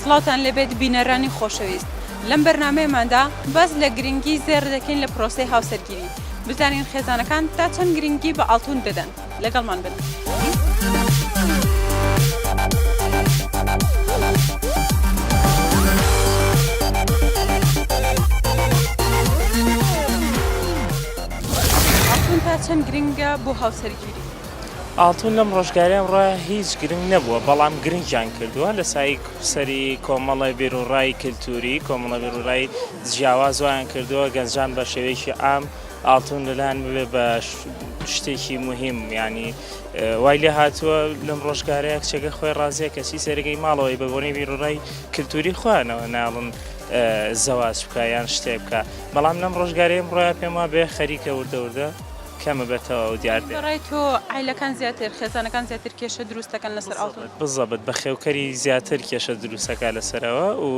سڵاوتان لێبێت بینەرانی خۆشەویست لەم بەرنامەیەماندا باس لە گرنگی زێڕ دەکەین لە پرۆسەی هاوسەرگیری بزانین خێزانەکان تا چەند گرنگی بە ئاڵتون دەدەن لەگەڵمان بن. ئاڵتون تا چەند گرنگە بۆ هاوسەرگیری؟ ئاڵتون لەم ڕۆژگاری ئەمڕۆ هیچ گرنگ نەبووە، بەڵام گرنگیان کردووە لە سای سەری کۆمەڵی بیروڕای کلتووری، کۆمەڵە بیروڕای جیاواز وایان کردووە گەنجان بە شێوەیەکی عام ئاڵتون لەلایان ببێ بە شتێکی موهیم، یانی وای لێ هاتووە لەم ڕۆژگارەیا کچەکە خۆی ڕازیە کەچی سەرەکەی ماڵەوەی بە بۆنەی بیروڕای کلتووری خۆیانەوە ناڵن زەواج بکە یان شتێ بکە، بەڵام لەم ڕۆژگاری ئەمڕۆیا پێم وابێ خەریکە وردە وردە. کەمە بە تەواو دیار بێت. بە ڕای تۆ عایلەکان زیاتر، خێزانەکان زیاتر کێشە دروست دەکەن لەسەر ئاڵتون؟ بزەبت بەخێوکەری زیاتر کێشە دروست ئەکا لەسەرەوە و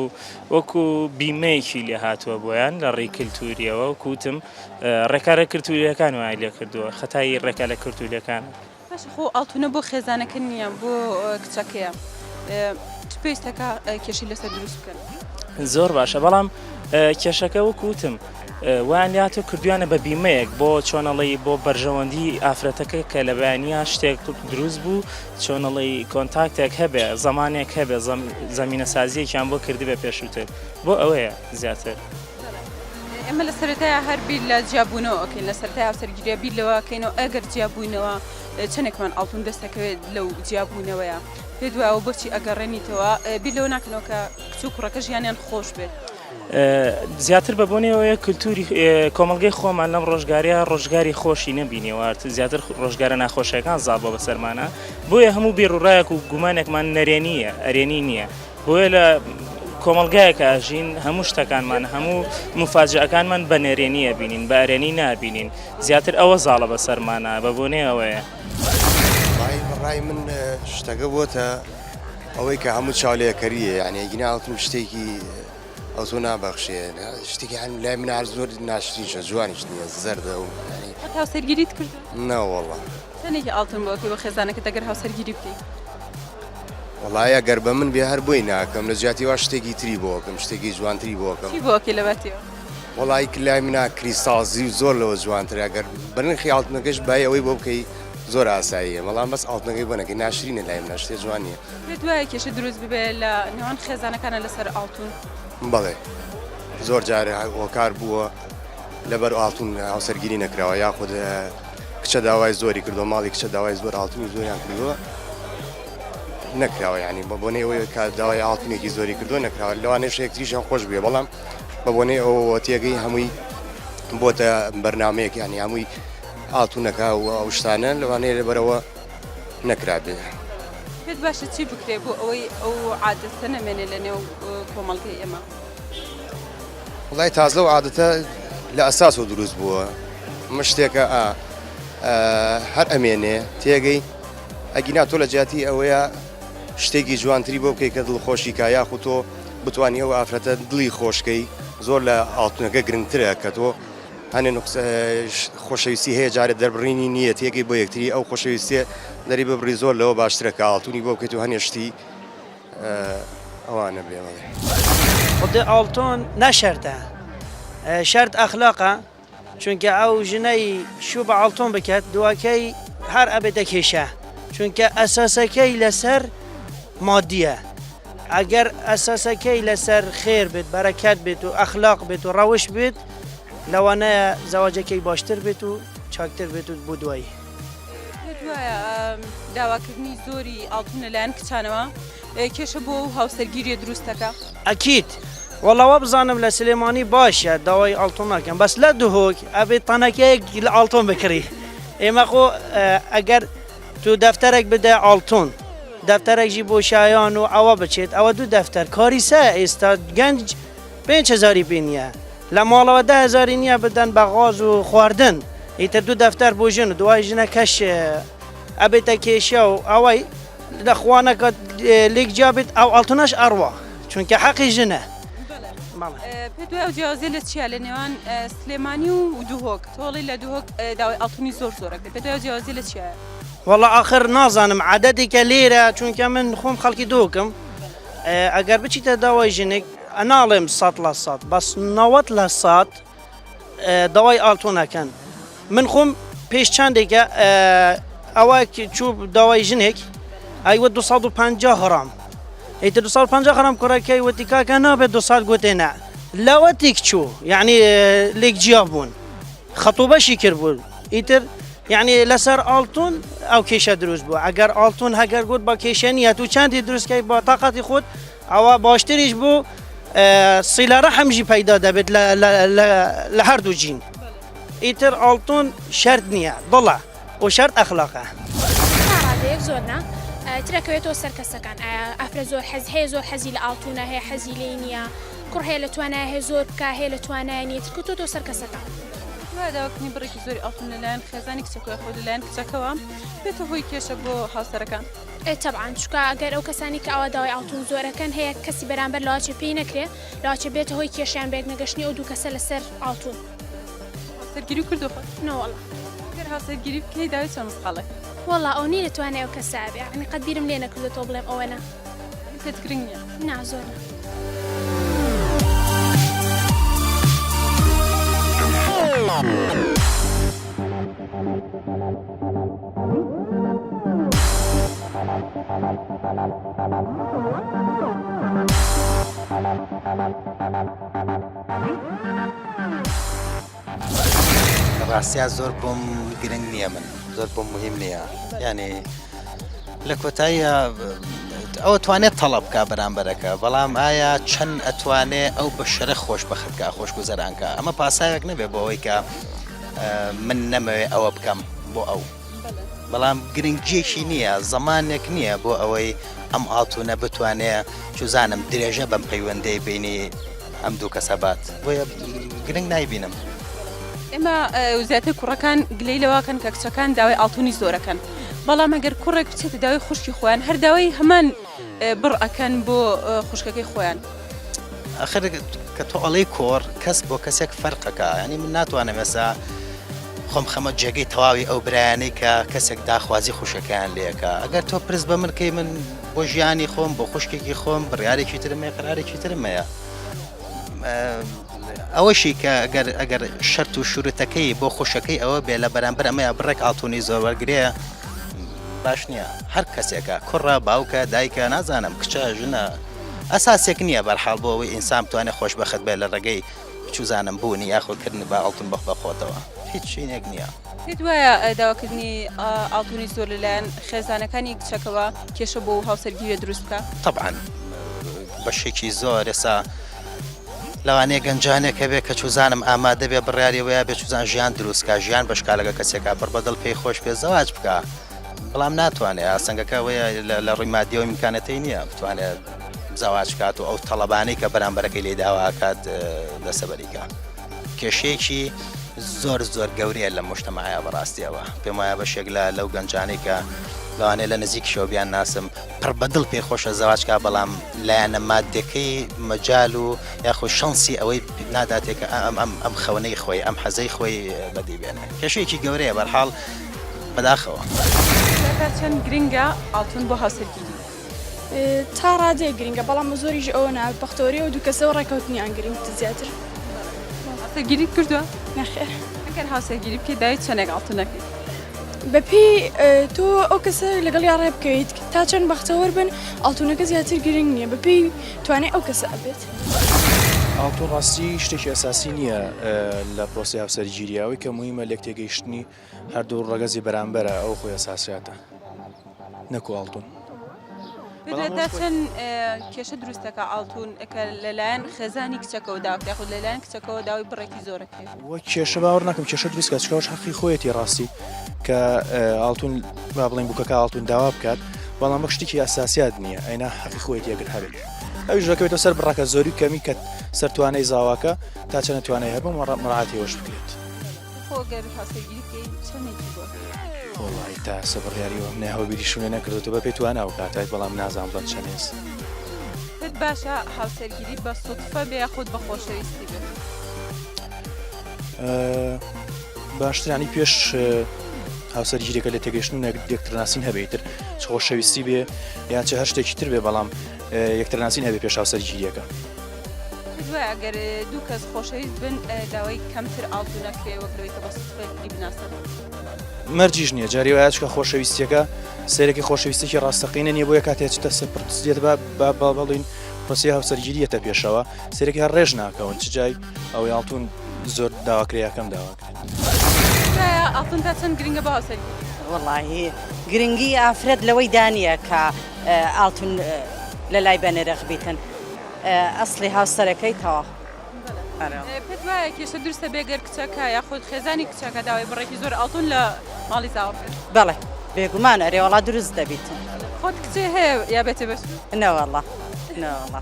وەکو بیمەیەکی لێ هاتووە بۆیان لە ڕێی کلتوریەوە وەکو وتم ڕێکارە کلتوریەکان وایان لێ کردووە خەتای ڕێکارە کلتوریەکانە. باشە خۆ ئاڵتونە بۆ خێزانەکە نییە بۆ کچەکەیە چ پێویستەکە کێشی لەسەر دروست بکەن. زۆر باشە بەڵام کێشەکە وەک وتم وان لات و کردویانە بە بیمەیەک بۆ چۆنەڵی بۆ بەرژەوەندی ئافرەتەکە کە لە بەیانە شتێک دروست بوو چۆنەڵی کۆنتاکتێک هەبێ زمانێک هەبێ زمینە سازیەکیان بۆ کردبێ پێشووتر بۆ ئەوەیە زیاتر. ئێمە لە سەرەتایە هەر بیر لە جیابوونەوە ئەکەین لە سەرای هاوسەرگیریە بیر لەوە کەینەوە ئەگەر جیابووینەوە چەندێکمان ئەڵتون دەستەکەوێت لەو جیابوونەوەیە پێ دوایەوە بۆچی ئەگەڕێنیتەوە بیر لەوە ناکەنەوە کە کچ و کوڕەکە ژیانیان خۆش بێت. زیاتر بە بۆنێەوەیە کللتوری کۆمەلگەی خۆمان لەم ڕۆژگاریا ڕۆژگاری خۆشی نەبینێوارد زیاتر ڕۆژگارە ناخۆشەکان زاڵ بۆ بەسەرمانە بۆیە هەموو بێڕوڕایەک و گومانێکمان نەرێنیە ئەرێنی نییە بۆیە لە کۆمەڵگایەکە ئەژین هەموو شتەکانمان هەموو مفاجەکانمان بە نەرێنی ئەبینین بە ئەرێنی نابینین زیاتر ئەوە زاڵە بە سەرمانە بە بۆنێ ئەوەیە ڕای من شتەکە بۆتە ئەوەی کە هەموو چاولێکەریە یعنی گیناڵتم شتێکی ئەو زۆ نابەخشێ شتێکی هەن لای منار زۆر ناشرینشە جوانیش نیە زەردە و هاوسەرگیریت کرد ناوەڵە تەنێکی ئاڵتن بۆ بە خێزانەکە دەگەر هاوسەرگیری بکەیت وەڵایی ئەگەر بە من بێ هەر بۆی ناکەم لە جیاتی وا شتێکی تری بۆکەم شتێکی جوانتری بۆکەم چی بۆکی لەبەتیەوە وەڵی کلای منا کریسازی و زۆر لەوە جوانتر ئەگەر بنرخی ئاڵتنەکەش بای ئەوەی بۆ بکەی زۆر ئاساییە بەڵام بەس ئاڵتنەکەی بۆنەکەی ناشرینە لای منە شتێ جوان نیە پێ دوایە کێشە دروست ببێ لە نێوان خێزانەکانە لەسەر ئاڵتون بەڵێ زۆر جارە هۆکار بووە لەبەر ئاڵتون هاوسەرگیری نەکراوە یاخود کچە داوای زۆری کردو ماڵی کچە داوای زۆر ئاڵتونی زۆریان کردووە نەکراوە ینی بە بۆنەی ئەوەیە کە داوای ئاڵتونێکی زۆری کردو نەکراوە لەوانەیە شێکتریشیان خۆش بێ بەڵام بە بۆنەی ئەوەوە تێگەی هەمووی بۆتە بەرنمەیەک ینی هەمووی ئاڵتونەکە و ئەو شتانە لەوانەیە لەبەرەوە نەکرابێ. پێت باشە چی بکرێ بۆ ئەوەی ئەو عادەستە نەمێنێ لە نێو کۆمەڵگەی ئێمە؟ وڵای تازە و عادەتە لە ئەساسەوە دروست بووە مە شتێکە ئا هەر ئەمێنێ تێگەی ئەگینا تۆ لە جیاتی ئەوەیە شتێکی جوانتری بۆ بکەیت کە دڵخۆشی کا یاخو تۆ بتانی ئەو ئافرەتە دڵی خۆشکەی زۆر لە ئاڵتونەکە گرنگترە کە تۆ هەنێ خۆشەویستی هەیە جارە دەربڕینی نییە تێگەی بۆ یەکتری ئەو خۆشەویستێ دەری ببڕی زۆر لەوە باشترە کە ئاڵتونی بۆ بکەیت و هەنێشتی ئەوانە بێ بەڵێ. خودێ ئاڵتۆن نە شەرتە شەرت ئەخلاقە چونکە ئەو ژنەی شوو بە ئاڵتۆن بکات دواکەی هەر ئەبێ دەکێشە چونکە ئەساسەکەی لەسەر مادیە ئەگەر ئەساسەکەی لەسەر خێر بێت بەرەکەت بێت و ئەخلاق بێت و ڕەوش بێت لەوانەیە زەواجەکەی باشتر بێت و چاکتر بێت و بۆ دوایی. پێتوایە داواکردنی زۆری ئاڵتون لەلایەن کچانەوە کێشە بۆ و هاوسەرگیریە دروستەکە؟ ئەکید وەڵا وا بزانم لە سلێمانی باشە داوای ئاڵتون ناکەن بەس لە دهۆک ئەبێ تەنەکەیەک لە ئاڵتۆن بکڕی ئێمە خۆ ئەگەر تو دەفتەرێک بدە ئاڵتون دەفتەرێکژی بۆ شایان و ئەوە بچێت ئەوە دوو دەفتەر کاریسە ئێستا گەنج پێنج هزاری پێ نییە لە ماڵەوە دە هەزاری نییە بدەن بە غاز و خواردن، ئیتر دوو دەفتەر بۆ ژن و دوای ژنەکەش ئەبێتە کێشە و ئەوەی لە خوا نەکات لێک جیا بێت ئەو ئاڵتونەش ئەڕوا چونکە حەقی ژنە. پێت وایە ئەو جیاوازیە لە چیە لە نێوان سلێمانی و دهۆک تۆڵی لە دهۆک داوای ئەڵتونی زۆر زۆرەکە پێت وایە جیاوازی لە چیە؟ وەڵا ئاخر نازانم عادەتێکە لێرە چونکە من خۆم خەڵکی دهۆکم ئەگەر بچیتە داوای ژنێک ناڵێم سەد لە سەد بەس نەوەد لە سەد داوای ئالتۆن ئەکەن من خۆم پێش چندێکە ئەوە چوو داوای ژنێک ئەیوە 250 غرام ئیتر 250 غرام کوڕەکەی وتی کاکە نابێت دو سال گوتێ نە لەوە تێک چوو یعنی لێک جیا بوون خەتو بەشی کرد بوون ئیتر یعنی لەسەر ئالتون ئەو کێشە دروست بوو ئەگەر ئالتون هەگەر گوت بە کێشە نیە تو چندی دروستکەی بە تااقاتی خۆت ئەوا باشتریش بوو سیلە ڕەحم ژی پەیدا دەبێت لە هەردوو جین ئیتر ئاڵتون شەرت نییە دڵە و شەرت ئەخلاقە زۆر نا ترەکەوێتەوە سەر کەسەکان ئەفرە زۆر حەز هەیە زۆر حەزی لە ئاڵتونە هەیە حەزی لێ نییە کوڕ هەیە لە توانای هەیە زۆر بکە هەیە لە توانای نیە ترکوتۆ تۆ سەر کەسەکان داواکردنی بڕێکی زۆری ئەڵتون لەلایەن خێزانی کچەکە خۆ لەلایەن کچەکەەوە بێتە هۆی کێشە بۆ هاوسەرەکان. ئێ تەبعەن چوکا ئەگەر ئەو کەسانی کە ئاوا داوای ئاڵتون زۆر ئەکەن هەیە کەسی بەرامبەر لاچێ پێی نەکرێ لاچێ بێتە هۆی کێشەیان بە یەک نەگەشتنی ئەو دوو کەسە لەسەر ئاڵتون هاوسەرگیری کردوە خۆت؟ نەوەڵا ئەگەر هاوسەرگیری بکەی داوی چەند مسقاڵێک؟ وەڵا ئەو نی لە توانای ئەو کەسە ئەبێ یەعنی قەت بیرم لێ نەکردوە تۆ بڵێم ئەوەنە یەعنی پێت گرنگ نیە؟ نا زۆر نا. ڕاستە زۆر بۆم گرنگ نییە من زۆر بۆم مهم نییە یعنی لە کۆتاییە ئەو توانێت تەڵب بکە بەرامبەرەکە بەڵام ئایا چەند ئەتوانێ ئەو بە شەرە خۆش بەخەکە خۆش گوزەرانکە ئەمە پاساوێک نەبێ بۆ ئەوەی کە من نەمەوێ ئەوە بکەم بۆ ئەو بەڵام گرنگیەکی نییە زەمانێک نییە بۆ ئەوەی ئەم ئاڵتونە بتوانێ چوزانم درێژە بەم پەیوەندەی بینی ئەم دوو کەسەبات بۆیە گرنگ نایبینم. ئێمە زیاتر کوڕەکان گلەی لەواکەن کە کچەکان داوای ئاڵتونی زۆرەکەن بەڵام ئەگەر کوڕێک بچێتە داوای خوشکی خۆیان هەرداوای هەمان بڕ ئەەکەن بۆ خوشکەکەی خۆیان. ئەخر کە تۆ ئەڵی کۆڕ کەس بۆ کەسێک فەرقەکە ینی من ناتوانم ێسا خۆم خەمە جێگەی تەواوی ئەو برایانەی کە کەسێک داخوازی خوشەکەیان لەکە ئەگەر تۆ پرس بە منکەی من بۆ ژیانی خۆم بۆ خوشکێکی خۆم بڕارێکی ترمێ قرارێکی ترمەیە ئەوەشی کە ئەگەر ئەگەر شەرت و شورتەکەی بۆ خوشەکەی ئەوە بێ لە بەرامبەر ئەمەیە بڕێک ئاڵتونی زۆر وەرگێ باش نییە هەر کەسێکە کوڕە باوکە دایکە نازانم کچە ژنە ئەساسێک نییە بەرحاڵ بۆ ئەوەی ئینسان بتوانێت خۆشبەخت بێت لە ڕێگەی چوزانم بوونی یاخۆ کردنی با ئەڵتون بەخ بەخۆتەوە هیچ شوینێک نییە. پێت وایە داواکردنی ئاڵتونی زۆر لەلایەن خێزانەکانی کچەکەوە کێشە بۆ هاوسەرگیریە دروست بکە؟ تەبعەن بەشێکی زۆر ئێسا لەوانەیە گەنجانێک هەبێ کە چوزانم ئامادەبێ بڕیاری وەیە بێ چوزان ژیان دروستکە ژیان بەشکالەکە کەسێکا پڕ بەدڵ پێی خۆش پێ زەواج بکە بەڵام ناتوانێ ئاستەنگەکە ئەوەیە لە- لە ڕووی مادیەوە ئیمکانەتەی نییە بتوانێ زەواج بکات و ئەو تەڵەبانەی کە بەرامبەرەکەی لێی داوا ئەکات دەستەبەری کا. کێشەیەکی زۆر زۆر گەورەیە لەم موژتەماعە بەڕاستیەوە پێم وایە بەشێک لە لەو گەنجانەی کە لەوانەیە لە نزیکیشەوە بیان ناسم پڕ بە دڵ پێی خۆشە زەواج کا بەڵام لایەنە مادیەکەی مەجال و یاخود شەنسی ئەوەی پێ ناداتێ کە ئە ئەم ئەم ئەم خەونەی خۆی ئەم حەزەی خۆی بەدی بێنێ کێشەیەکی گەورەیە بەرحاڵ بەداخەوە. کاکە چەند گرنگە ئاڵتون بۆ هاوسەرگیری؟ تا ڕادەیەک گرنگە بەڵام بە زۆریش ئەوە نا بەختەوەری ئەو دوو کەسەوە ڕێکەوتنیان گرنگتر زیاتر هاوسەرگیریت کردووە نەخێر ئەگەر هاوسەرگیری بکەیت داوای چەندێک ئاڵتون دەکەیت بەپێی اه، تۆ ئەو کەسە لەگەڵ یا ڕێ بکەیت تا چەند بەختەوەر بن ئاڵتونەکە زیاتر گرنگ نییە بەپێی توانێ ئەو کەسە ئەبێت ئاڵتون ڕاستی شتێکی ئەساسی نییە اه، لە پرۆسەی هاوسەرگیری ئەوەی کە موهیمە لێک تێگەیشتنی هەردوو ڕەگەزی بەرامبەرە ئەو خۆیە ساسیاتە نەکو ئاڵتون. پێتوێتە چەند کێشە دروستەکە ئاڵتون کە لەلایەن خێزانی کچەکەەوە داکرێ خود لەلایەن کچەکەەوە داوای بڕێکی زۆرەکرێت وە کێشە باوەڕ نەکەم کێشە دروستکە چکەش حەقی خۆیەتی ڕاستی کە ئاڵتون با بڵین بکەکە ئاڵتون داوا بکات بەڵام بە شتێکی ئەساسیات نییە ئەینا حەقی خۆیەتی یەکرد هەبێت ئەو ژەکەوێتە سەر بڕەکە زۆری کەمی کە سەرتوانەی زاواکە تا چەنە توانای هەبوو مەڕاتیەوەش بکرێت. وڵی تا سە بڕیاریەوە نە هەوبیری شوێ نەکردو بە پێت وانە ئەو کاتایت بەڵام نازان بڵند چەنێز باشە هاوسەرگیری بە سوتفە بێ خودت بە خۆشەویستی بێت باشترانی پێش هاوسەرگیرێکە لە تێگەشتن و یەکترناسین هەبێتتر خۆشەویستی بێ یاچە هەر شتێکی تر بێ بەڵام یەکترناسین هەبێ پێش هاوسەرگیریەکە دوای ئەگەر دوو کەس خۆشەویست بن داوای کەمتر ئاڵتو نەکرێ وەکەوەی کە بە سوپەری بناسن مەرجیش نییە جاری وایچکە خۆشەویستیەکە سێرەکی خۆشەویستێکی ڕاستەقینە نیە بۆیە کاتێ چتە سەر پرتسیێت بە با با بڵین پرسی هاوسەرگیریەتە پێشەوە سێرەکی هەر ڕێژ ناکەون چ جای ئەوەی ئاڵتون زۆر داواکریاکەم داوات. وڵی گرنگی ئافرەت لەوەی دانە کە ئاڵتون لە لای بەنرخ بیتن ئەسلی هاوسەرەکەی تەوا کێشە درستە بێگەر کچەکە یاخود خێزانی کچەکە داوای بڕێکی زۆر ئاڵتون لە ماڵی زاوە بڵێ بێگومان ئەرێوەڵا دروست دەبیت خۆت کچێ هەیە یا بێتێ بەش نەوەڵە نەوەڵە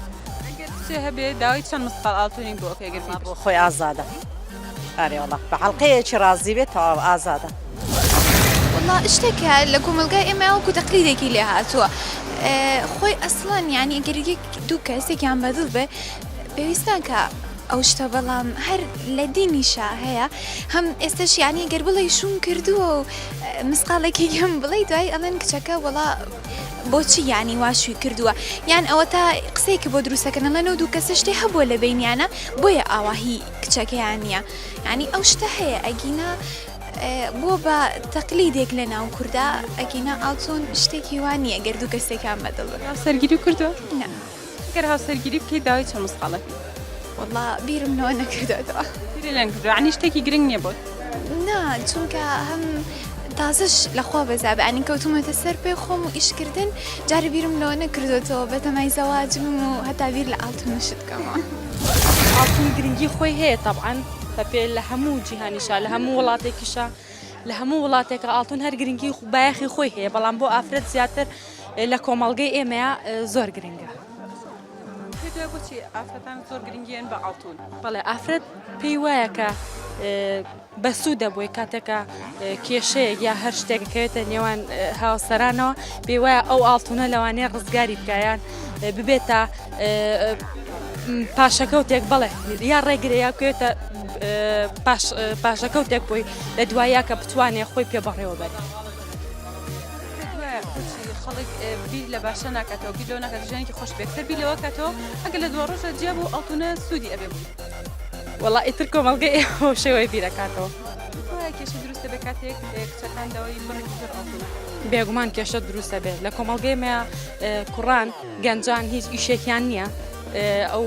هەبێ داوای چەند مسقال ئاڵتونین بۆ ئەوکەگەر بۆ خۆی ئازادە. ئەرێ وەڵا بە حەڵقەیەکی ڕازی بێت تەواو ئازادە. وەڵا شتێکە لە کۆمەڵگای ئێمە وەکو تەقلیدێکی لێ هاتووە خۆی ئەسڵەن یانی گەر یەک دوو کەسێکیان بەدڵ بێ پێویستان کە ئەو شتە بەڵام هەر لە دینیشا هەیە هەم ئێستش یانی گەر بڵێ شوم کردووە و مسقالێکی گەم بڵێ دوای ئەڵێن کچەکە وڵا بۆچی یانی واشوی کردووە یان ئەوە تا قسەیەکی بۆ دروستەکەنەڵێن و دوو کەسە شتێ هەبووە لە بینیانە بۆیە ئاواهی کچەکەیان نیە یانی ئەو شتە هەیە ئەگینا بۆ بە تەقلیدێک لە ناو کووردا ئەگینا ئاڵتون شتێکی وان نیە گەر دوو کەسێکان بەدڵ سەرگیری کردو گەر هاوسەرگیری بکەی داوای چە مسقالەکە والله بیرم نەوە نەکردەوە لەنگ عنی شتێکی گرنگ نیە بۆت. نا چونکە هەم تازش لەخوا بەزابێ ئەنی کەوتومەتە سەر پێ خۆم و ئیشکردن جارە بیرم لەوە نەکردوێتەوە بەتەمای زەواجم و هەتا بیر لە ئاڵتونشت بکەمەوە ئاڵتون گرنگی خۆی هەیە تەبعەن بە پێ لە هەموو جیهانیشا لە هەموو وڵاتێکیشە لە هەموو وڵاتێکە ئاڵتون هەر گرنگی خو بایەخی خۆی هەیە بەڵام بۆ ئافرەت زیاتر لە کۆمەڵگەی ئێمەیە زۆر گرنگە. پێتوایە بۆچی ئافرەتان زۆر گرنگیان بە ئاڵتون بەڵێ ئافرەت پێی وایە کە بەسوودە بۆی کاتێکە کێشەیەک یا هەر شتێکەکەوێتە نێوان هاوسەرانەوە پێی وایە ئەو ئاڵتونە لەوانەیە ڕزگاری بکایان ببێتە پاشەکەوتێک بڵێ یا ڕێگرێ یا بکەوێتە پاشەکەوتێک بۆی لە دوایە کە بتوانێت خۆی پێ بەڕێوە بەرێت. خەڵک بیر لە باشە ناکاتەوە بیر لەوە ناکات ژیانێکی خۆش بێت کە بیر لەوە کاتەوە ئەگە لە دووە ڕۆژە جیا بوو ئەڵتونە سوودی ئەبێ بوو وەڵا ئیتر کۆمەڵگەی ئێوە شێوەی بیرەکاتەوە کێشە دروستە بە کاتێک کچەکان داوای بڕێکی زۆر ئەڵتونە بێگومان کێشە دروستە بێت لە کۆمەڵگەی مە کوڕان گەنجان هیچ ئیشێکیان نییە ئەو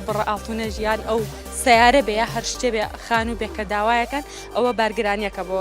بڕ ئاڵتونە ژیان ئەو سیارە بێ هەر شتێ بێ خان و بێکە داوایەکەن ئەوە بارگرانیەکە بۆ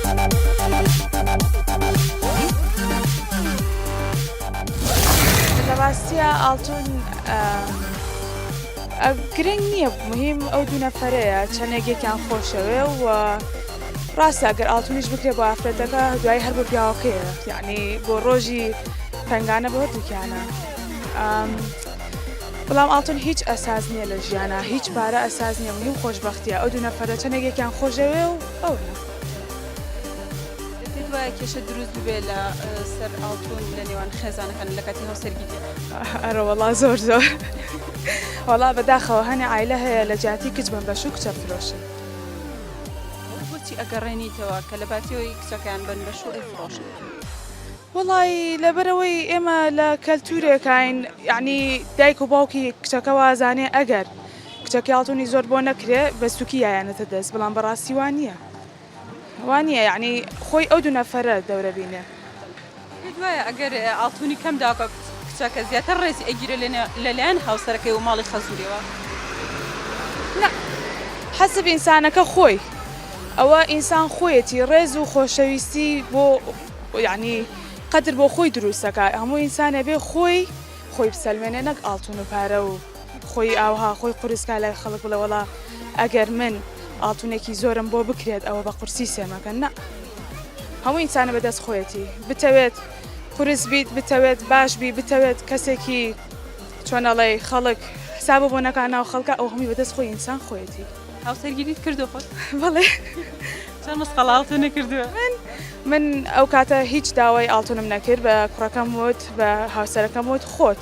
لەڕاستیە ئاڵتون گرنگ نییە مهم ئەو دوو نەفرەیە چەندێک یەکیان خۆشەوێ و ڕاستە گەر ئاڵتونیش بکرێ بۆ ئافرەتەکە دوای هەر بۆ پیاوەکەیە یعنی بۆ ڕۆژی پنگانە بۆ دوکیانە بەڵام ئاڵتون هیچ ئەساز نییە لە ژیانە هیچ پارە ئەساز نیە مهم خۆشببختیە ئەو دوو نەفرە چەندێک یەکیان خۆشەوێ و ئەو. پێت وایە کێشە دروست ببێ لە سەر ئاڵتون لە نێوان خێزانەکان لە کاتی هاوسەرگیری؟ ئەرە وەڵا زۆر زۆر وەڵا بەداخەوە هەنێ عیلە هەیە لە جیاتی کچ بم بەش و کچە فرۆشن بۆچی ئەگەڕێنیتەوە کە لە باتیەوەی کچەکان بن بەش و ئەیفرۆشن وڵی لەبەرەوەی ئێمە لە کەلتورێکین یعنی دایک و باوکی کچەکە وازانێ ئەگەر کچەکەی ئاڵتونی زۆر بۆ نەکرێ بە سوکی یایەنەتە دەست بەڵام بەڕاستی وا نییە وا نییە یعنی خۆی ئەو دوو نەفەرە دەورە بینێ دوایە ئەگەر ئاڵتونی کەم داکە کچەکە زیاتر ڕێزی ئەگیرە لەلایەن هاوسەرەکەی و ماڵی خەزورەوە حەسب ئینسانەکە خۆی ئەوە ئینسان خۆیەتی ڕێز و خۆشەویستی بۆ یعنی قەدر بۆ خۆی دروستەکە هەموو ئینسانە بێ خۆی خۆی بسەلمێنێ نەک ئاڵتون و پارە و خۆی ئاوها خۆی قورسکا لە خەڵک بڵێ وڵا ئەگەر من ئاڵتونێکی زۆرم بۆ بکرێت ئەوە بە قورسی سێمەکەن نە هەموو ئینسانە بەدەست خۆیەتی بتەوێت قورس بیت بتەوێت باش بی بتەوێت کەسێکی چۆنەڵی خەڵک حساب بۆ نەکان ناو خەڵکە ئەو هەمی بەدەست خۆی ئینسان خۆیەتی هاوسەرگیریت کردو خۆت بڵێ چەند مسقەڵاڵتە نەکردووە من من ئەو کاتە هیچ داوای ئاڵتونم نەکرد بە کوڕەکەم وت بە هاوسەرەکەم وت خۆت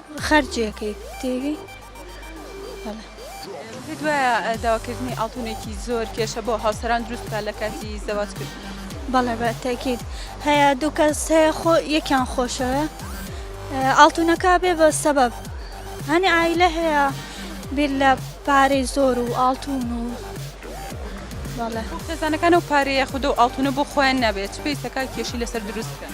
خەرجی ئەکەیت تێگەی بەڵێ. پێت وایە داواکردنی ئاڵتونێکی زۆر کێشە بۆ هاوسەران دروست بکات لە کاتی زەواج کردن؟ بەڵێ بە تەئکید هەیە دوو کەس هەیە خۆ یەکیان خۆشەوێ ئه، ئاڵتونەکە بێ بە سەبەب هەنێ عایلە هەیە بیر لە پارەی زۆر و ئاڵتون و بەڵێ خۆ خێزانەکان ئەو پارەیە خودە و ئاڵتونە بۆ خۆیان نابێت چ پێویستە کاک کێشەی لەسەر دروست بکەن؟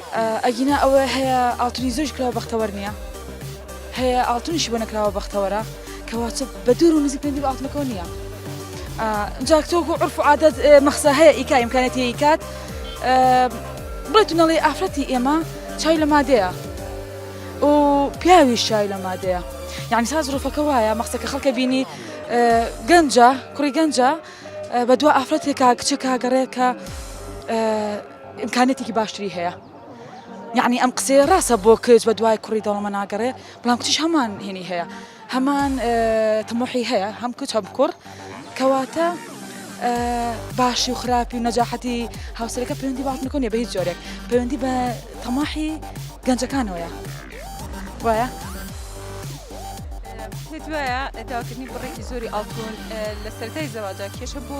ئەگینا ئەوەی هەیە ئاڵتونی زۆریش کراوە بەختەوەر نیە هەیە ئاڵتونیشی بۆ نەکراوە بەختەوەرە کەوا چ بە دوور و نزیک پێندی بە ئاڵتونەکەەوە نییە جاک تۆک و عرف و عادەت مەخسە هەیە ئیکا ئیمکانێتی ئیکات بڵێ تونەڵی ئافرەتی ئێمە چای لە مادەیە و پیاوی شای لە مادەیە یعنی ساز ڕوفەکە وایە مەخسەکە خەڵکە بینی گەنجە کوڕی گەنجە بە دو ئافرەتێکا کچێکا گەڕێکە ئیمکانیەتێکی باشتری هەیە یعنی ئەم قسەیە ڕاستە بۆ کچ بە دوای کوڕی دەوڵەمە ناگەڕێ بەڵام کچیش هەمان هێنی هەیە هەمان تمۆحی هەیە هەم کچ هەم کوڕ کەواتە باشی و خراپی و نەجاحەتی هاوسەرەکە پەیوەندی باتنەکەنیە بە هیچ جۆرێک پەیوەندی بە تەماحی گەنجەکانەوەە وایە؟ پێت وایە داکردنی بڕێکی زۆری ئاڵتون لە سەرای زەواجا کێشە بۆ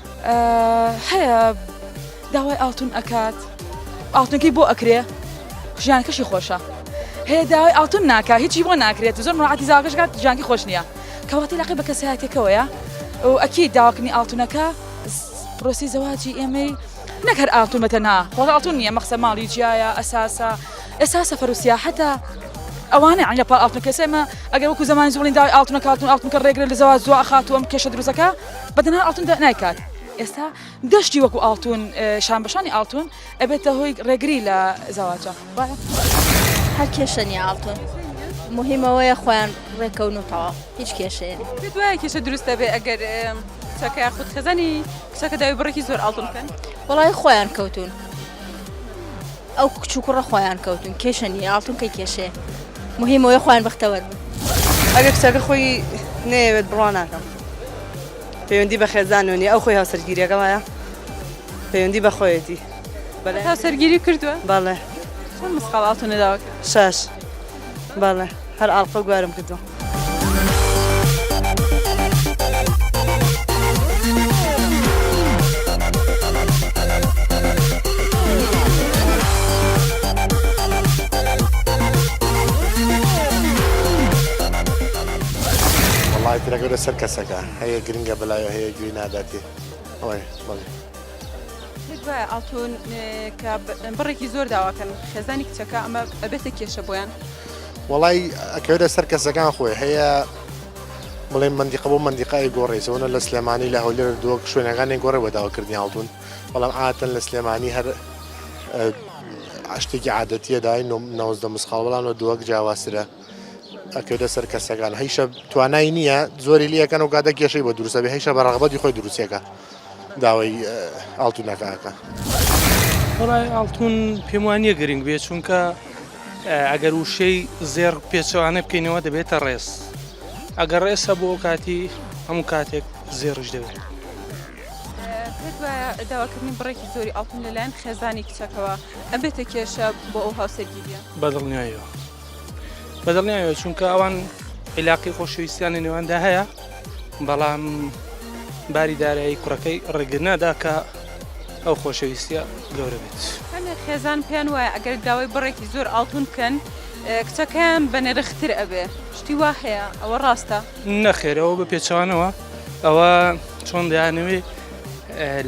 هەیە داوای ئاڵتون ئەکات ئاڵتونەکەی بۆ ئەکرێ ژیانکەشی خۆشە هەیە داوای ئاڵتون ناکە هیچی بۆ ناکرێت زۆر مڕاتی زاگەشکات ژانکی خۆش نییە کەواتی لەقی بە کەسایەتەکەوەیە ئەو ئەکی داواکننی ئاڵتونەکە پرۆسی زەواجی ئێمەی نەک هەر ئاڵتون بەتەنها خۆ ئاڵتون نییە مەخسە ماڵی جیایە ئەساسە ئێستا سەفەر و سیاحەتە ئەوانە عینە پا ئاڵتون کەسێمە ئەگەر وەکو زمانی زۆڵین داوای ئاڵتونە کاتون ئاڵتونکە ڕێگرە لە زەواج زۆ ئەخاتوەم کێشە دروستەکە بە دەنار ئاڵتون دە نایکات ئێستا گەشتی وەکو ئاڵتون شان بەشانی ئاڵتون ئەبێتە هۆی ڕێگری لە زەواجە هەر کێشە نیە ئاڵتون مهمەوەیە خۆیان ڕێکەون و تەواو هیچ کێشەیە دوای کێشە دروستە بێ ئەگەر چاکە خود خەزانی کچەکە داوی بڕێکی زۆر ئاڵتون بکەن وڵای خۆیان کەوتون ئەو کچ و کوڕە خۆیان کەوتون کێشە نیە ئاڵتون کەی کێشەیە مهم ئەوەیە خۆیان بەختەوەر بن. ئەگەر کچەکە خۆی نەیەوێت بڕوا ناکەم پەیوەندی بە خێزانەوە نیە ئەو خۆی هاوسەرگیریەکە وایە پەیوەندی بە خۆیەتی بەڵێ هاوسەرگیری کردووە بەڵێ چەند مسقاڵ ئاڵتونە داوا کرد؟ شەش. بەڵێ هەر ئاڵقە گوارم کردووە. وڵاتیرەکە لەسەر کەسەکە هەیە گرنگە بەلای هەیە گوێ ناداتێ ئەوەیە بڵێ. تکایە ئاڵتون کە بڕێکی زۆر داواکەن خێزانی کچەکە ئەمە ئەبێتە کێشە بۆیان وڵی ئەکەوێتە سەر کەسەکان خۆی هەیە بڵێ مندیقە بۆ مندیقای گۆڕێسەوەە لە سلێمانی لە هەولێر دۆک شوێنەکانی گۆڕێ بەداواکردنی ئاڵتون بەڵام ئاتن لە سلێمانی هەر شتێکی عادەتیە دای نۆزدە مسخاڵ بەڵام لە دۆک جیاواسرە ئەکەوێتە سەر کەسەکان هەیشە توانای نییە زۆری لەکەن و گادە کێشەی بە دروستە بێ هەیشە بە ڕغبەتی خۆی دروستەکە داوای ئاڵتونەکەکە بەڵای ئاڵتون پێم وانە گرنگ بێ چونکە ئەگەر وشەی زێر پێچەوانە بکەینەوە دەبێتە ڕێز ئەگەر ڕێسە بۆ کاتی هەموو کاتێک زێڕش دەوێت داواکردنی بڕێکی زۆری ئاڵتون لەلایەن خێزانی کچەکەەوە ئەبێتە کێشە بۆ ئەو هاوسەرگیریە بەدڵنیایەوە بەدڵنیاوێ چونکە ئەوان عیلاقی خۆشەویستیان لە نێواندا هەیە بەڵام باری دارایی کوڕەکەی ڕێگر ناداکە ئەو خۆشەویستە گەورە بێت خێزان پێیان وایە ئەگەر داوای بڕێکی زۆر ئاڵتون بکەن کچەکەیان بە نرختر ئەبێ شتی وا هەیە ئەوە ڕاستە نەخێرەوە بە پێچوانەوە ئەوە چۆن دەیانەوێ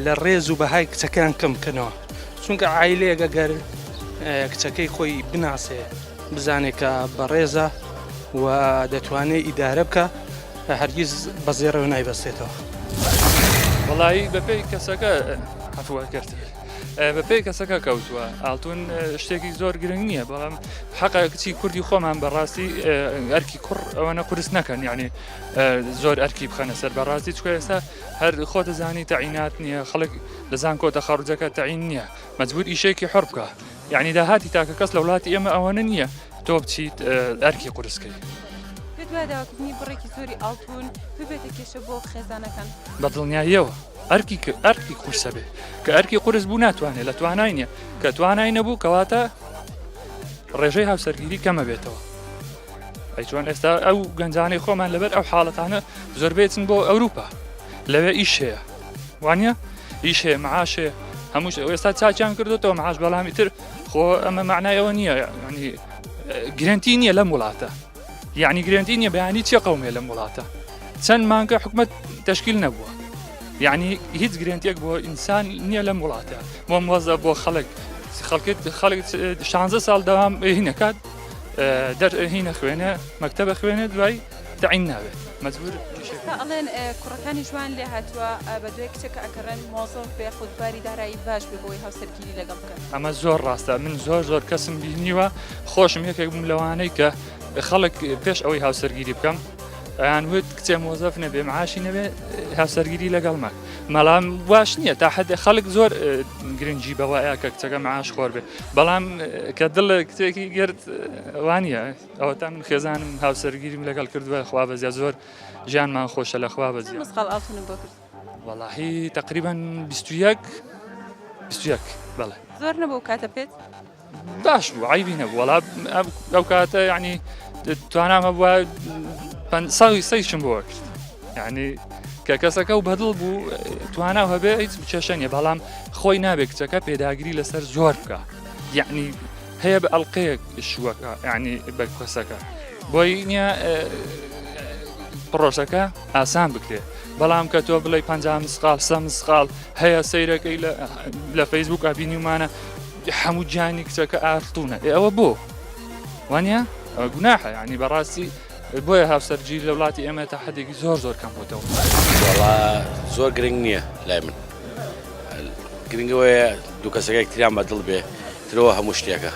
لە ڕێز و بەهای کچەکەیان کەم بکەنەوە چونکە عیلەیەگە گەر کچەکەی خۆی بناسێ بزانێکە بەڕێزە و دەتوانێت ئیدارە بکە هەرگیز بەزێڕەوە نایبەستێتەوە وڵایی بەپی کەسەکە هەفوە کرد. بەپی کەسەکە کەوتووە ئالتون شتێکی زۆر گرنگ نییە بەڵام حەقا کچی کوردی خۆمان بەڕاستی ئەرکی کوڕ ئەوەنە قرس نەکەن یعنی زۆر ئەرکی بخەنە سەر بەڕاستی چکە ئێستا هەر خۆ دەزانی تەعینات نییە خەڵک لە زانکۆ تەخەڕوجەکە تەعین نیە مەجبور ئیشێکی حۆڕ بکە یعنی داهاتی تاکە کەس لە وڵاتی ئێمە ئەوەنە نیە تۆ بچیت ئەرکی قورسکەی دواداکردنی بڕێکی زۆری ئاڵتون ببێتە کێشە بۆ خێزانەکان بە دڵنیاییەوە ئەرکی کە ئەرکی قورسە بێ کە ئەرکی قورس بوو ناتوانێت لە توانای نیە کە توانای نەبوو کەواتە ڕێژەی هاوسەرگیری کەمە بێتەوە ئەیچوان ئێستا ئەو گەنجانەی خۆمان لەبەر ئەو حاڵەتانە زۆربێتن بۆ ئەوروپا لەوێ ئیش هەیە وانە ئیش هەیە معاش هەیە هەمووش ئێستا چاچیان کردوەوە معاش بەڵامی تر خۆ ئەمە معنایەوە نییە ینی گرنتی نییە لەم وڵاتە یعنی گرنتی نییە بەیانی چێ قومێ لەم وڵاتە چەند مانگە حکومت تشکیل نەبووە یعنی هیچ گرنتێک بۆ ئینسان نییە لەم وڵاتە بۆ مۆزە بۆ خەڵک خەڵکت خەڵک شانزە ساڵ داوام هینەکات دەرهینە خوێنە مەکتتەبە خوێنە دوای تەعین نابێت مەجبور کیشەکە ئەڵێن کوڕەکانی جوان لێ هاتووە بە دوێ کچەکە ئەکەڕێن مۆزۆف بێ خودباری دارایی باش بێ بۆی هاوسەرگیری لەگەڵ بکەن ئەمە زۆر ڕاستە من زۆر زۆر کەسم بینیوە خۆشم یەکێک بووم لەوانەی کە خەڵک پێش ئەوەی هاوسەرگیری بکەم ئەیان وت کچێ مۆزەف نەبێ معاشی نەبێ هاوسەرگیری لەگەڵمە مەڵام واش نییە تا حد خەڵک زۆر گرنگجی بەوەیە کە کچەکە معاش خۆر بێ بەڵام کە دڵ کتێکی گرت وانە ئەوەتا من خێزانم هاوسەرگیریم لەگەڵ کردووە خوا بەزیا زۆر ژیانمان خۆشە لە خوا بەزی مسقال ئاڵتونم بۆ کرد وەڵاهی تقریبان 21 21 بەڵێ زۆر نەبوو کاتە پێت باش بوو عیبی نەبوو وەڵا ئەو کاتە یعنی توانامە بووە ساوی سەیشم بۆ کرد یعنی کە کەسەکە و بەدڵ بوو توانا هەبێ هیچ بچەشە نیە بەڵام خۆی نابێت کچەکە پێداگری لەسەر زۆر بکە یعنی هەیە بە ئەڵقەیەک شووەکە یعنی بە کەسەکە بۆی نییە پڕۆژەکە ئاسان بکرێت بەڵام کە تۆ بڵێ پ مسقال سە مسقال هەیە سیرەکەی لە فەیسبوک ئابینیمانە هەموو گیانی کچەکە ئارتونە ئەوە بۆ وانە گوناحە ینی بەڕاستی بۆیە هاوسەرگی لە وڵاتی ئێمە تا حدێکی زۆر زۆر کەم بۆتەوە زۆر گرنگ نییە لای من گرنگەوەیە دوو کەسەکەی تریان بەدڵ بێ ترەوە هەموو شتێکە.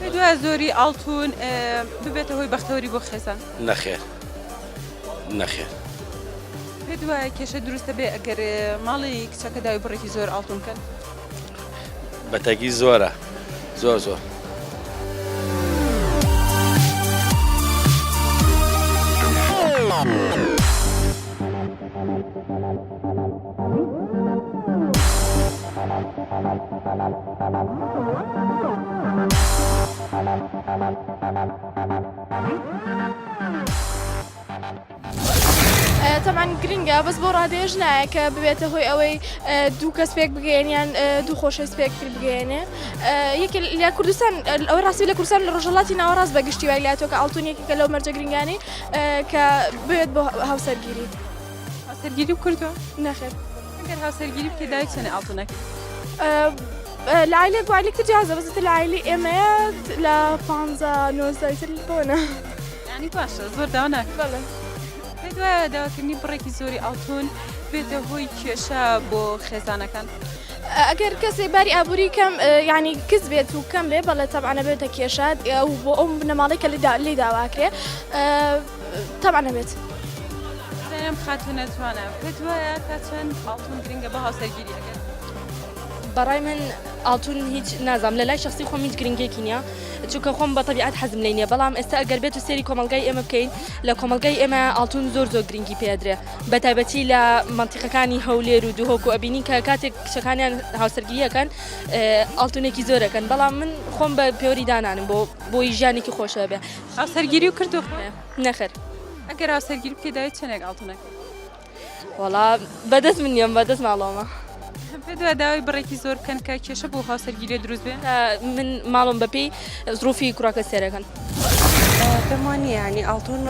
پێت وایە زۆری ئاڵتوون ببێتە هۆی بەختەوەری بۆ خێزان؟ نەخێر نەخێر. پێت وایە کێشە دروستە بێ ئەگەر ماڵی کچەکە داوی بڕێکی زۆر ئاڵتوون کەن؟ بەتەگی زۆرە زۆر زۆر. تەمان گرنگە بەس بۆ ڕادێژ نایە کە ببێتە هۆی ئەوەی دوو کەس پێک بگەێنیان دوو خۆشە سپێک تر بگەێنێ یەک لە کوردستان ئەو ڕاستی لە کوردستان لە ڕژەڵاتی ناوەڕاست بە گشتی وای لاتۆکە ئاڵتونێکی کە لەو مەرجە گرنگانی کە بێت بۆ هاوسەرگیری. هاوسەرگیری کردووە نەخێر ئەگەر هاوسەرگیری بکە داوی چەنە ئاڵتونەکە لە عیلێک والێک تر جیازە بەزتر لە عیلی ئێمەیە لە پ نۆزدایتر بۆنە ینی باشە زۆر داوا ناکەڵە دوایە داواکردنی بڕێکی زۆری ئاڵتون بێتە هۆی کێشە بۆ خێزانەکان. ئەگەر کەسێ باری ئابووری کەم ینی کز بێت و کەم بێ بەڵێ تەبانە بێتە کێشات و بۆ ئەو بنەماڵی کە لێدا لی داواکرێ تەبعەن ئەبێت. سلام خاتونە جوانە پێت وایە تا چەند ئاڵتون گرنگە بە هاوسەرگیری ئەگەر بەڕای من ئاڵتون هیچ نازام لە لای شخصی خۆم هیچ گرنگێکی نییە چونکە خۆم بە طبیعات حەزم لێ نیە بەڵام ئێستا ئەگەر بێت و سێری کۆمەلگای ئێمە بکەین لە کۆمەلگای ئێمە ئاڵتون زۆر زۆر گرنگی پێدرێ بە تایبەتی لە منتیقەکانی هەولێر و دوهۆک و ئەبینی کە کاتێک کچەکانیان هاوسەرگیریەکەن ئاڵتونێکی زۆرەکەن بەڵام من خۆم بە پێوەری دانانم بۆ بۆی ژیانێکی خۆشە بێ هاوسەرگیری و کردو؟ نەخێر. ئەگەر هاوسەرگیری بکەی داوای چەندێک ئاڵتون ئەکەی؟ وەڵا بەدەست من نییە بەدەست ماڵەوەمە. پێت وایە داوای بڕێکی زۆر بکەن کە کێشە بۆ هاوسەرگیری دروست بێ؟ من ماڵم بەپێی زروفی کوڕەکە سێرەکەن. پێم وا نییە یانی ئاڵتون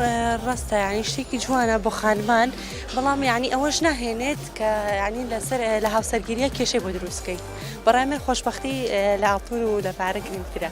ڕاستە یانی شتێکی جوانە بۆ خانمان بەڵام یانی ئەوەش ناهێنێت کە یانی لەسەر لە هاوسەرگیریە کێشەی بۆ دروستکەی بەڕای من خۆشببختی لە ئاڵتون و لە پارە گرنگترە.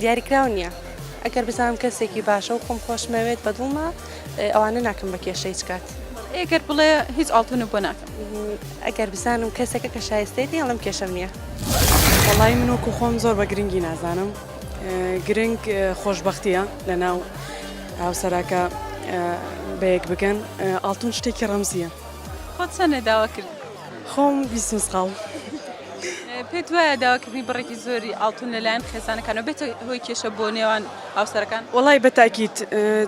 دیاریکراو نییە، ئەگەر بزانم کەسێکی باشە و خۆم خۆشمەوێت بە دڵمە، ئەوانە ناکەم بە کێشە هیچ کات. ئەگەر بڵێ هیچ ئاڵتونت بۆ ناکەم. ئەگەر بزانم کەسێکە کە شایستەیەتی ئەڵێم کێشەم نییە. وەڵایی من وەکو خۆم زۆر بە گرنگی نازانم، گرنگ خۆشبەختییە لە ناو هاوسەرەکە بەیەک بگەن، ئاڵتون شتێکی ڕەمزییە. خۆت چەند لێ داوا کردووی؟ خۆم بیست مسقاڵ. پێت وایە داواکردنی بڕێکی زۆری ئاڵتون لەلایەن خێزانەکانەوە بێتە هۆی کێشە بۆ نێوان هاوسەرەکان؟ وەڵای بە تاکید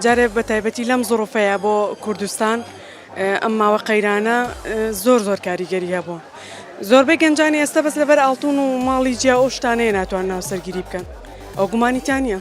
جارێ بە تایبەتی لەم زڕوفەیە بۆ کوردستان ئەم ماوە قەیرانە زۆر زۆر کاریگەری هەبوو زۆربەی گەنجانی ئێستا بەس لەبەر ئاڵتون و ماڵی جیا ئەو شتانەیە ناتوانن هاوسەرگیری بکەن ئەو گومانی تیا نییە.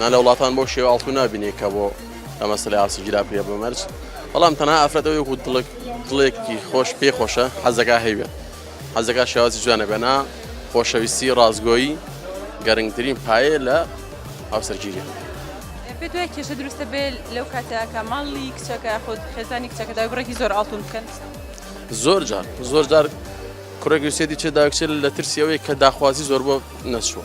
نا لە وڵاتان بەو شێوە ئاڵتون نابینێ کە بۆ ئەمە سلای ئاستی گیراپێ بە مەرج بەڵام تەنها ئافرەتەوە یەکو دڵک دڵێکی خۆش پێ خۆشە حەزەکە هەیوێت حەزەکە شێوازی جوانە بێنا خۆشەویستی ڕازگۆیی گەرنگترین پایە لە هاوسەرگیری پێت وای کێشە دروستە بێ لەو کاتەکە ماڵی کچەکە خۆت خێزانی کچەکەدا بڕێکی زۆر ئاڵتون بکەن زۆر جار زۆر جار کوڕێکی سێدی چێ داکچێت لە ترسی ئەوەی کە داخوازی زۆر بۆ نەچوە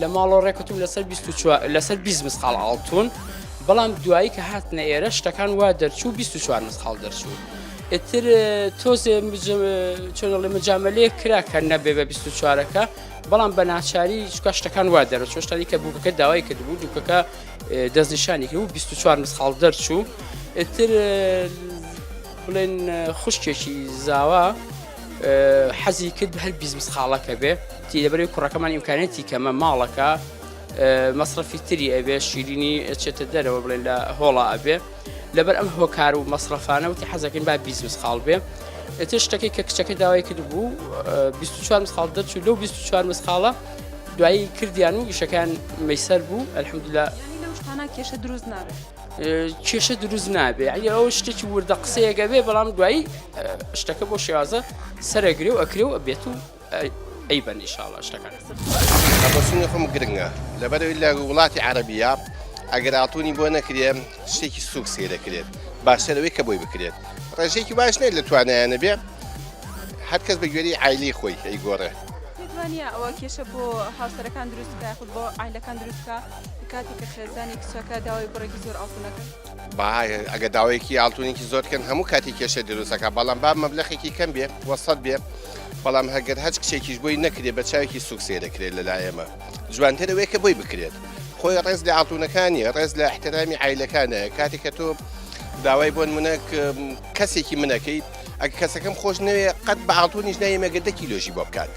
لە ماڵەوە ڕێکوتم لەسەر لەسەر بیست مسقال ئاڵتون بەڵام دوایی کە هاتنە ئێرە شتەکان وا دەرچوو 24 مسقال دەرچوو ئتر تۆزێ چۆنڵێ مجاملەیە کرا کە نەبێ بە 24ەکە بەڵام بە ناچاری چکە شتەکان وا دەرە چۆشتانی کە بووکەکە داوای کردبوو دووکەکە دەستنیشانی کرد و 24 مسقال دەرچوو ئتر بڵێن خوشکێکی زاوا حەزی کرد هەر بیزمس خاڵەکە بێ تی لەبەری کوڕەکەمان ئیمکانەتی کەمە ماڵەکە مەصرفی تری ئەبێ شیرینی چێتە دەرەوە بڵێن لە هۆڵا ئەبێ لەبەر ئەم هۆکار و مەصرفانە وتی حەزەکەین با بیزمس خاڵ بێ ئێتە شتەکەی کە کچەکە داوای کرد بوو 24 خاڵ دەرچوو لەو 24 مسخاڵە دوایی کردیان و گشەکان میسەر بوو ئەلحمدلا کێشە دروست نابێت کێشە دروست نابێ ئەنی ئەو شتێکی وردە قسەیەگە بێ بەڵام دوایی شتەکە بۆ شێوازە سەرەگرێ و ئەکرێ و ئەبێت و ئەی بە نیشاڵە شتەکان بەسونی خۆم گرنگە لەبەرەوەی لە وڵاتی عربیە ئەگەر ئاڵتونی بۆ نەکرێ شتێکی سوک سێ دەکرێت باشترەوەی کە بۆی بکرێت ڕێژێکی باش نێت لە توانایانە بێ هەر کەس بە گوێری ئایلی خۆی ئەی گۆڕێ ئەوە کێشە بۆ هاوسەرەکان دروستکە خود بۆ ئایلەکان دروستکە کاتێک کە خێزانی کچەکە داوای بڕێکی زۆر ئاڵتون ئەکەن. با ئەگە داوایەکی ئاڵتونێکی زۆر بکەن هەموو کاتی کێشە دروست ئەکا، بەڵام با مەبلەغێکی کەم بێ و سەد بێ، بەڵام ئەگەر هەچ کچێکیش بۆی نەکرێ بە چاوێکی سووک سەیر ئەکرێ لە لای ئێمە، جوانتر ئەوەیە کە بۆی بکرێت. خۆی ڕێز لە ئاڵتونەکان نییە، ڕێز لە ئیحترامی عایلەکانایە. کاتێک کە تۆ داوای بۆ نموونە کەسێکی من ئەکەیت، ئەگەر کەسەکەم خۆش نەوێ قەت بە ئاڵتونیش نایەم ئەگەر دە کیلۆشی بۆ بکات.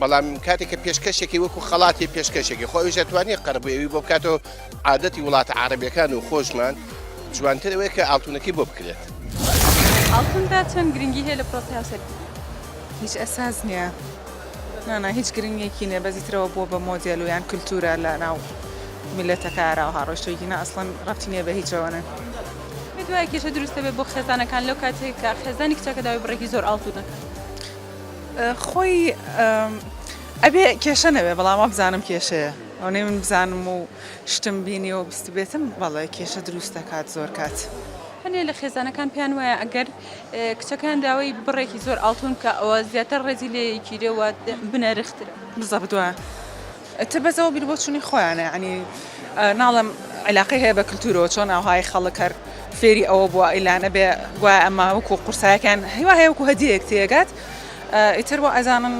بەڵام کاتێک کە پێشکەشێکی وەکو خەڵاتی پێشکەشێکی خۆ ئەویش ئەتوانێت قەربووی ئەوی بۆ بکاتەوە عادەتی وڵاتە عربیەکان و خۆشمان جوانتر ئەوەیە کە ئاڵتونەکەی بۆ بکرێت ئاڵتوندا چەند گرنگی هەیە لە پرۆسی هاوسەرگیری هیچ ئەساس نییە نانا هیچ گرنگێکی نیە بەزیترەوە بۆ بە مۆدیل و یان کللتورە لە ناو میلەتەکە ئاراو هاڕۆشتێکی نە ئەسڵەن ڕەتی نیە بە هیچەوەە دوای کێشە دروستە بێ بۆ خێزانەکان لەو کاتێک کە خێزانی کچەکە داوای بڕێکی زۆر ئاڵتونەکە خۆی ئەبێ کێشە نەبێ بەڵام وابزانم کێشەیە ئەونەی من بزانم و شتم بینی و بستبێتم بەڵێ کێشە دروست دەکات زۆر کات. هەنێ لە خێزانەکان پێیان وایە ئەگەر کچەکەیان داوای بڕێکی زۆر ئاڵتون بکا ئەوە زیاتر ڕێزی لێ یەکیرێ و بنەرخترە. بزەبت وایە ئیتر بەس ئەوە بیر بۆچونی خۆیانە یانی ناڵێم علاقەی هەیە بە کلتورەوە چۆن ئاهای خەڵک هەر فێری ئەوە بووە ئیلانە بێ گوای ئەمە وەکو قورسایەکان هیوا هەیە وەکو هەدیەیەک تێگات ئیتر وە ئەزانن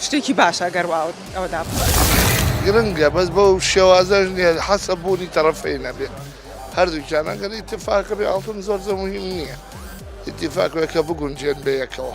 شتێکی باشە گەر واوت ئەوە دابخوات. گرنگە بەس بەو شێوازەش نیە حەسە بوونی تەڕەفەین هەبێت هەردووکیان ئەگەر ئیتیفاق هەبێت ئاڵتون زۆر زۆر موهیم نیە ئیتیفاق بێت کە بگونجێن بەیەکەوە.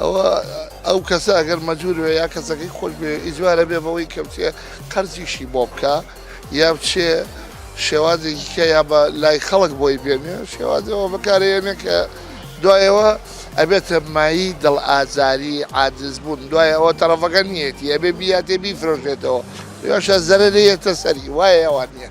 ئەوە ئەو کەسە ئەگەر مەجور وێ یا کەسەکەی خۆش بێ ئیجوارە بێ بەوەی کەوتێ قەرزیشی بۆ بکە یا بچێ شێوازێکی کە یا بە لای خەڵک بۆی بێنێ شێوازەوە بەکارێنێ کە دوایەوە ئەبێتە مایی دڵ ئازاری عادز بوون دوای ئەوە تەڕەفەکە نیەتی ئەبێ بیاتێ بیفرۆشێتەوە یاشە زەرەێتە سەری وایە ئەوان نیە.